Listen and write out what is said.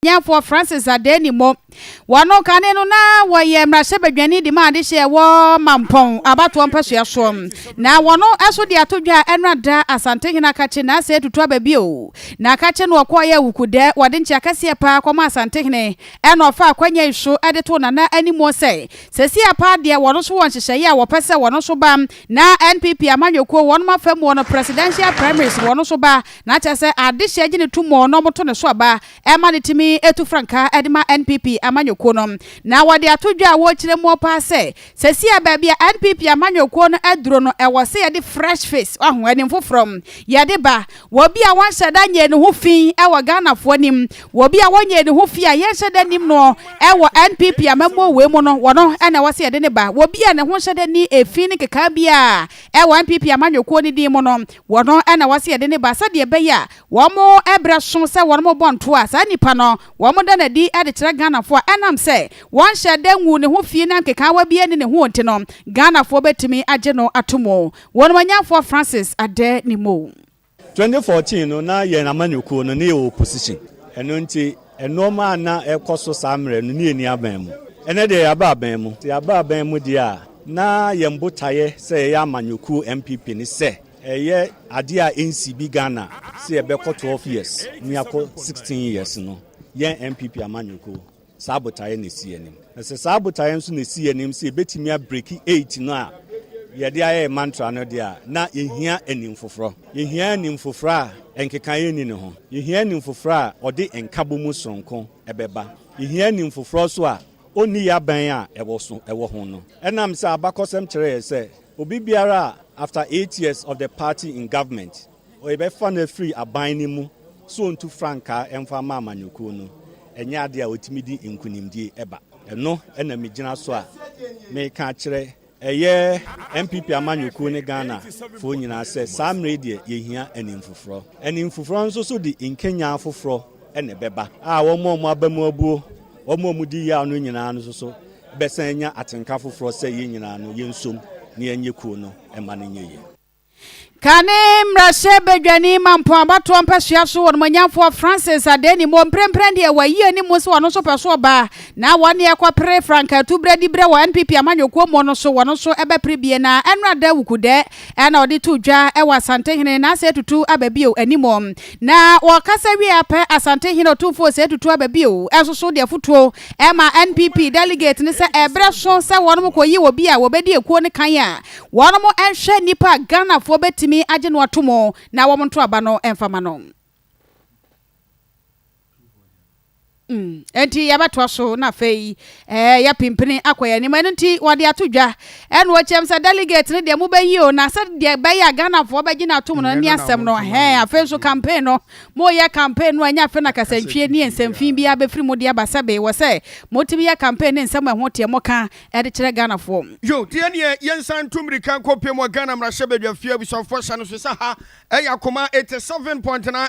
Ɔbɔadeɛnyafoɔ Francis Adani mmɔ. Wɔn kane no na wɔyɛ mmarahyɛbadwani de ma adehyeɛ ɛwɔ Mampɔn abatoɔ mpasua soɔ. Na wɔn nso de ato dwa a ɛnora da Asantehene Akakye Naase atutu aba bio. Na Akakye no ɔkɔɔeɛ Awukudɛ, wɔde nkyea kɛseɛ paa kɔmaa Asantehene ɛna ɔfaa akwanya yi so de too Nana animuo sɛ seesei apaa deɛ wɔn nso wɔ nhyehyɛeɛ a wɔpɛ sɛ wɔn nso ba na NPP amanyɔkuo wɔn afamuo no Presidential Primaries wɔn nso ba Na kyerɛ sɛ adehyɛ gye ne to mu na wɔto ne so aba ma no tumi tu frankaa de ma NPP amanyɔkuo no. Na wɔde ato dwa a wɔrekyerɛ mu paa sɛ, seesei a baabi a NPP amanyɔkuo no aduro no, ɛwɔ sɛ yɛde fresh face, waho, anim foforɔ, yɛde ba. Wɔ obi a wɔnhyɛ da nyɛɛ ne ho fi wɔ Ghanafoɔ anim, wɔ obi a wɔnyɛɛ ne ho fi a yɛnhyɛ da nnim noɔ wɔ NPP amammuo wei mu no, wɔ no na ɛwɔ sɛ yɛde no ba. Wɔ obi a ne ho nhyɛ da nni efi ne nkekaa biara wɔ NPP amanyɔkuo no din mu no, Wɔn na wɔse yɛde no ba sɛdeɛ ɛbɛyɛ a wɔn ɛberɛ so sɛ wɔn bɔ ntoɔ a saa nipa no wɔn da no adi de kyerɛ Ghanafoɔ a ɛnam sɛ wɔnhyɛɛ da nguu ne ho fii na nkekaawa biara nni ne ho nti no Ghanafoɔ bɛtumi agye no ato mu Wɔn Manyɛnfoɔ Francis Adenimo. 2014 no na yɛn amanyɔkuo no ne yɛwɔ opposition ɛno nti nnoɔma a na ɛrekɔ so saa mmerɛ no ne yɛnni abɛn mu. Ɛnnɛ deɛ yɛaba abɛn mu, sɛ yɛaba abɛn mu deɛ a, Ná yɛn botaeɛ sɛ yɛyɛ amanyɔkuo NPP ne sɛ ɛyɛ adeɛ a ɛnsii bi Ghana sɛ yɛbɛkɔ 12 years ne yɛakɔ 16 years no. Yɛn NPP amanyɔkuo saa botaeɛ na ɛsi yɛn anim. Na sɛ saa botaeɛ nso na ɛsi yɛn anim sɛ yɛbɛtumi abreki eight no a yɛde ayɛ yɛn mantra no deɛ a, na yɛhia anim foforɔ. Yɛhia anim foforɔ a nkekaeɛ nni ne ho. Yɛhia anim foforɔ a ɔde nkabɔmu sononko bɛba. Yɛhia anim foforɔ nso a onni yɛabɛn a ɛwɔ so wɔ ho no. Ɛnam sɛ abakɔsɛm kyerɛ yɛn sɛ obi biara a after eight years of the party in government yɛbɛfa no afiri aban no mu sɛ ɔntu frankaa mfa mma amanyɔkuo no, ɛnyɛ adeɛ a ɔtumi de nkunimdie ba. Ɛno na megyina so a meka akyerɛ Ɛyɛ NPP amanyɔkuo ne Ghana foɔ nyinaa sɛ saa mmerɛ yi deɛ yɛhia animfoforɔ. Animfoforɔ nso so de nkenyan foforɔ na ɛbɛba a wɔn a wɔaba mu abuo, wɔn a wɔdi yaw no nyinaa nso so bɛsan anya atenka foforɔ sɛ yɛn nyinaa no yɛnsom na yɛnyɛ kuo no mma no nyɛ yie. Kane mmarahyɛbadwani ma mpɔn abatoɔ mpasua so wɔnomanyamfoɔ Francis Adani Moore mprempren deɛ wayi animu sɛ ɔno nso pɛ so ɔbaa na wɔne ɛkɔ pere frankaa tu berɛ di berɛ wɔ NPP amanyɔkuo muo no so wɔno nso ɛbɛ pere bie na ɛnora da wukudɛ ɛna ɔde to dwa ɛwɔ Asantehene na asɛ tutu aba bio animu na wɔkasa wie apɛ Asantehene otumfoɔ sɛ tutu aba bio ɛnso so deɛ fotuo ɛma NPP delegate ne sɛ ɛberɛ so sɛ wɔnom kɔyi obi a wɔbɛdi ekuo no kan a Wɔnom nhwɛ nipa a Ghanafoɔ bɛtumi agye no atomu na wɔn nto aba no mfa ma no. Ɛnti yɛbɛtoa so na afei ɛɛ yɛ pimpini akɔ yɛn anim ɛno nti wɔde ato dwa ɛna ɔkyɛm sɛ delegate no deɛ mobɛyi o na sɛ deɛ bɛyɛ a Ghanafoɔ bɛgye no atom no ne asɛm no hɛn afei nso campaign no moyɛ campaign no ɛnyɛ afei na kasantwie ne nsɛmfin biara bɛfiri mu de aba sɛbe wɔ sɛ motumi yɛ campaign ne nsɛm ɛho teɛ moka de kyerɛ Ghanafoɔ. Yo, deɛ neɛ yɛnsan ntu mmirika nkɔ pie mu wɔ Ghana mmarahyɛbadwa fie abusuafoɔ hyɛ no so sɛ ha yɛ akoma 87.9.